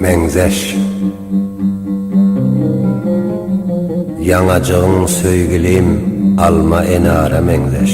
Meňzeş Ýaňajygyň söýgülim alma enara meňzeş.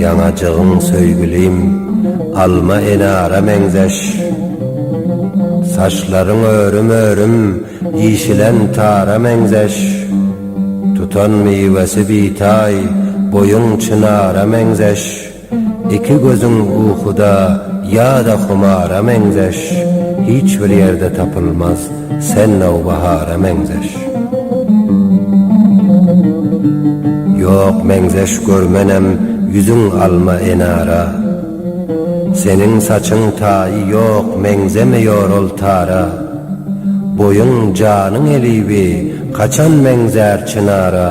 Ýanajygyň söýgülim alma enara meňzeş Saçlaryň örüm-örüm işilen tara meňzeş Tutan miwesi bitaý boýuň çynara meňzeş. Iki gözüň ukuda ýa-da humara meňzeş, Hiç bir ýerde tapylmaz sen nowbahara meňzeş. Ýok meňzeş görmenem ýüzüň alma enara, Seniň saçyň taýy ýok meňzemeýor ol tara, Boýuň janyň eliwi, kaçan meňzär çynara,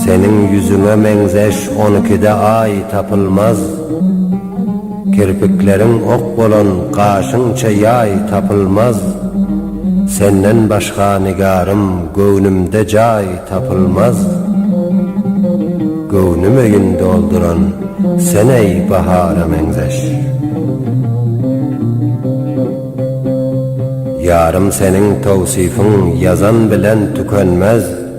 Seniň ýüzüňe meňzeş on ikide aý tapylmaz, Kirpikleriň ok bolan gaşyňça ýaý tapylmaz, Senden başga nigarym göwnümde jaý tapylmaz, Göwnüm öýün dolduran sen-eý bahara meňzeş. Ýarym seniň towsyfyň ýazan bilen tükenmez,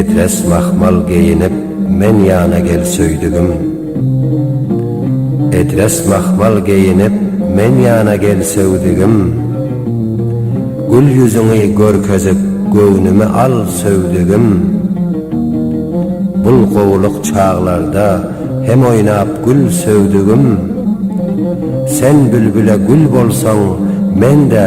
Epes mahmal geýinip men ýana gel söýdügim Epes mahmal geýinip men ýana gel söýdügim Gül ýüzüňi görkezip göwnümi al söýdügim Bul gowulyk çaglarda hem oýnap gül söýdügim Sen bülbüle gül bolsaň men-de